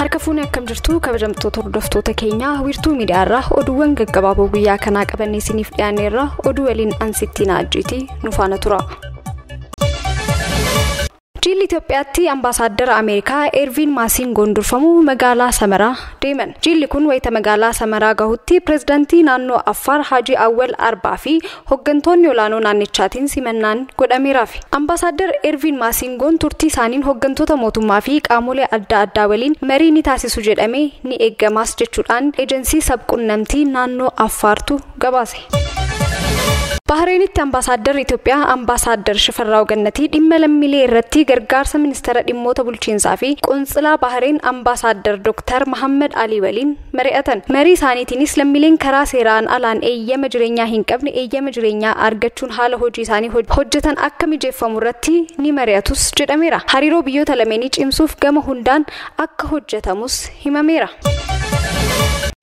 Harka fuunee akkam jirtu kabajamtoota hordoftoota keenyaa wiirtuu miidiyaarraa oduuwwan gaggabaaboo guyyaa kanaa qabannee isiniif dhiyaanneerra oduu waliin ansittiin ajjiitii nu faana tura. Jiilli Itoophiyaatti Ambaasaaddara Ameerikaa Eerviin Maasingoon durfamu magaalaa Samaraa deeman. Jiilli kun wayita magaalaa Samaraa gahutti Pireezidantii naannoo Affaar Haajii Awwal Arbaa fi hoggantoonni olaanoo naannichaatiin simannaan godhameeraafi. Ambaasaaddar Eerviin Maasingoon turtii isaaniin hoggantoota mootummaa fi qaamolee adda addaa waliin marii ni taasisu jedhamee ni eegamaas jechuudhaan ejansii sab-qunnamtii naannoo Affaartu gabaase. Bahareenitti Ambaasaaddarri Itoophiyaa Ambaasaaddar Shifarraaw Gannatii dhimma lammiilee irratti gargaarsa Ministeera Dhimmoota Bulchiinsaa fi Qontsilaa Bahareen Ambaasaaddar Dooktar Mahammad Alii waliin mari'atan. Marii isaaniitiinis lammiileen karaa seeraan alaan eeyyama jireenyaa hin qabne eeyyama jireenyaa argachuun haala hojii isaanii hojjetan akka mijeeffamu irratti ni mari'atus jedhameera. Hariiroo biyyoota lameenii cimsuuf gama hundaan akka hojjetamus himameera.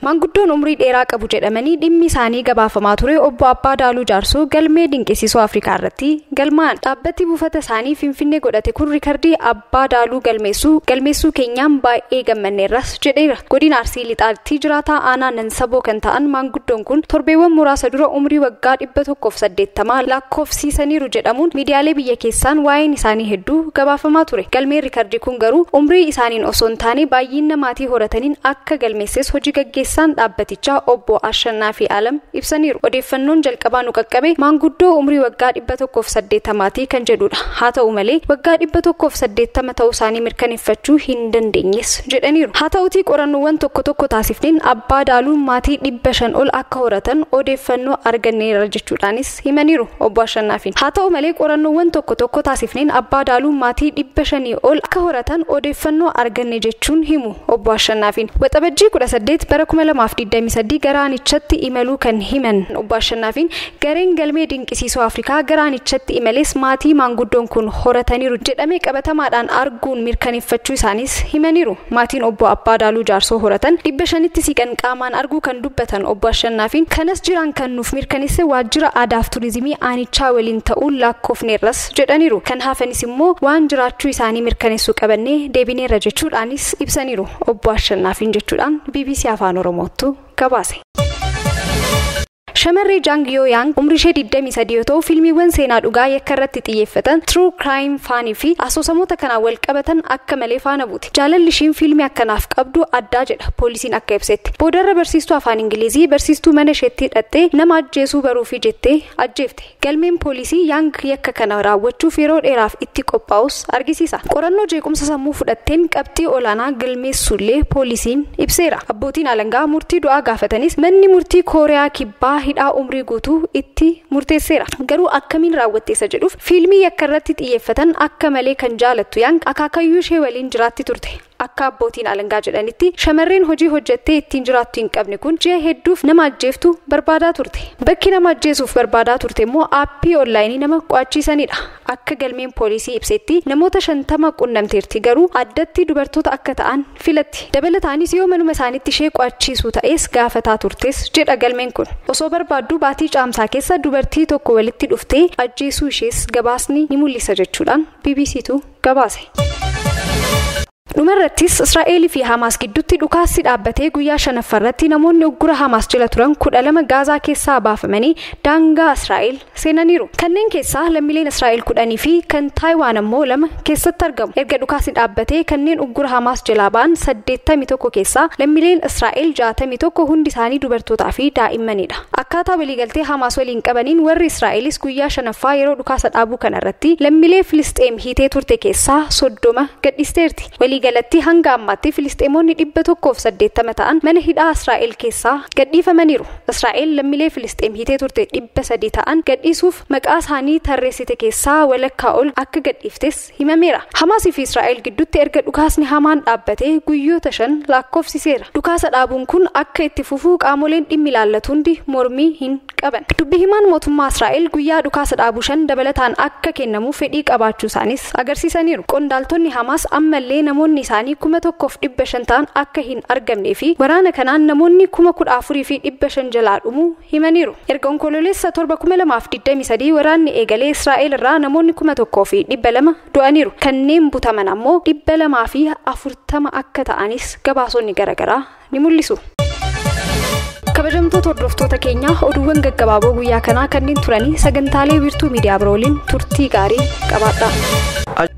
Maanguddoon umrii dheeraa qabu jedhamanii dhimmi isaanii gabaafamaa ture obbo Abbaa Daaluu Jaarsoo galmee dinqisiisoo Afrikaa irratti galmaa'an. Dhaabbati buufata isaanii Finfinnee godhate kun rikardii Abbaa Daaluu galmeessuu galmeessuu keenyaan baay'ee gammanneerras jedheera. Godina Arsii Harargee Lixaatti jiraataa aanaa Nansaboo kan ta'an maanguddoon kun torbeewwan muraasa dura umrii waggaa 180 lakkoofsiisaniiru jedhamuun miidiyaalee biyya keessaan waa'een isaanii hedduu gabaafamaa ture. Galmeen rikardii kun garuu umrii isaaniin osoo hin taane baayyiinna maatii horataniin akka galmeesses hoji gaggeessaan dhaabbatichaa obbo Ashannaafi Alam ibsaniiru. Odeeffannoon jalqabaa nu qaqqabe maanguddoo umrii waggaa 180 ti kan jedhu dha. Haa ta'u malee waggaa 180 ta'uu isaanii mirkaneeffachuu hin dandeenyes jedhaniiru. Haa ta'utii qorannoowwan tokko tokko taasifneen Abbaa Daaluu maatii 500 ol akka horatan odeeffannoo arganneerra jechuudhaanis himaniiru Obbo Ashannaafiin. Haa ta'u malee qorannoowwan tokko tokko taasifneen Abbaa Daaluu maatii 500 ol akka horatan odeeffannoo arganne jechuun himu. Obbo Ashannaafiin Waxabajjii 18 bara 2023 gara aanichatti imaluu kan himan Obbo Ashannaafiin, gareen galmee dinqisiisoo Afrikaa gara aanichatti imales maatii maanguddoon kun horataniiru jedhame qabatamaadhaan arguun mirkaneeffachuu isaaniis himaniiru. Maatiin Obbo Abbaa Daaluu Jaarsoo horatan 500tti siiqan qaamaan arguu kan dubbatan Obbo Ashannaafiin, kanas jiraan kan nuuf mirkanesse Waajjira Aadaaf Turizimii aanichaa waliin ta'uun laakkofneerras. jedhaniiru. Kan hafanis immoo waan jiraachuu isaanii mirkaneessu qabannee deebineerra jechuudhaanis ibsaniiru Obbo Ashannaafiin jechuudhaan bbc Afaan Oromoottu gabaase. Shamarree Jang Yoo Yaang umrii ishee 23 yoo ta'u fiilmiiwwan seenaa dhugaa yakka irratti xiyyeeffatan, true crime faanii fi asoosamoota kanaan wal qabatan akka malee faana buuti. Jaalalli ishiin fiilmii akkanaaf qabdu addaa jedha poolisiin akka ibsetti. Boodarra barsiistuu afaan Ingilizii barsiistuu mana isheetti dhaqxee nama ajjeesuu baruufi jettee ajjeefte. Galmeen poolisii Yaang yakka kana raawwachuuf yeroo dheeraaf itti qophaa'us argisiisa. Qorannoo jeequmsa sammuu fudhatteen qabxii olaanaa galmeessuullee poolisiin ibseera. Abbootiin alangaa murtii du'aa gaafatanis manni murtii Kooriyaa Kibbaa hidhaa umrii guutuu itti murteesseera. Garuu akkamiin raawwatte isa jedhuuf fiilmii yakkarratti xiyyeeffatan akka malee kan jaalattu Yaang akaakayyuushee waliin jiraatti turte. Akka abbootiin alangaa jedhanitti, shamarreen hojii hojjettee ittiin jiraattu hin qabne kun ji'a hedduuf nama ajjeeftu barbaadaa turte. Bakki nama ajjeesuuf barbaadaa turte immoo aappii onlaayinii nama qo'achiisanidha. Akka galmeen poolisii ibsetti namoota 50 qunnamteerti garuu addatti dubartoota akka ta'an filatti. Dabalataanis yoo manuma isaaniitti ishee qo'achiisuu ta'es gaafataa turtes jedha galmeen kun. Osoo barbaadduu baatii Caamsaa keessa dubartii tokko walitti dhuftee ajjeesuu ishees gabaasni ni mul'isa jechuudhaan BBCtu gabaase. Dhumarrattis Israa'eel fi Hamaas gidduutti dhukaassi dhaabbatee guyyaa shanaffaarratti namoonni uggura Hamaas jala turan kudha lama Gaazaa keessaa baafamanii daangaa Israa'eel seenaniiru. Kanneen keessaa lammiileen Israa'eel kudhanii fi kan Taayiwaan ammoo lama keessatti argamu. Erga dhukaasni dhaabbatee kanneen uggura Hamaas jalaa ba'an saddeettamii tokko keessaa lammiileen Israa'eel jaatamii tokko hundi isaanii dubartootaa fi daa'immanidha. Akkaataa waliigaltee Hamaas waliin qabaniin warri Israa'elis guyyaa shanaffaa yeroo dhukaasa dhaabuu kana irratti lammilee Filisxeem hiitee turte keessaa 30 gadhiisteerti. Waliigalatti hanga ammaatti Filisxeemoonni 180 ta'an mana hidhaa Israa'el keessaa gadhiifamaniiru. Israa'el lammilee Filisxeem hiitee turte 300 ta'an gadhiisuuf maqaa isaanii tarreessite keessaa walakkaa ol akka gadhiiftes himameera. Hamaas fi Israa'el gidduutti erga dhukaasni hamaan dhaabbatee guyyoota shan laakkofsiseera. Dhukaasa dhaabuun kun akka itti fufu qaamoleen dhimmi ilaallatu hundi mormii hin qaban. Dubbi himaan mootummaa Israa'el guyyaa dhukaasa dhaabuu shan dabalataan akka kennamu fedhii qabaachuusaaniis agarsiisaniiru. Qondaaltonni Hamaas ammallee namoonni isaanii 1,500 ta'an akka hin argamnee fi waraana kanaan namoonni 14,500 jalaa dhumuu himaniiru. Erga Onkoloolessa 7,2023 waraanni eegalee Israa'el irraa namoonni 1,200 du'aniiru. Kanneen butaman ammoo 240 akka ta'anis gabaasonni garagaraa ni mul'isu. Kabajamtoota hordoftoota keenyaa oduuwwan gaggabaaboo guyyaa kanaa kanneen turanii sagantaalee wiirtuu miidiyaa biroo waliin turtii gaarii qabaadhaa.